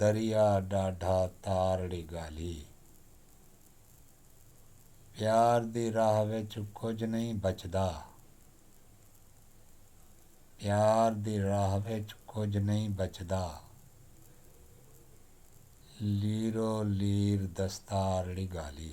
دریا ݙاڈھا تارڑی ڳالھی۔ پیار دی راہ وچ کجھ نئیں بچدا۔ پیار دی راہ وچ کجھ نئیں بچدا۔ لیرو لیر دستارڑی ڳالھی۔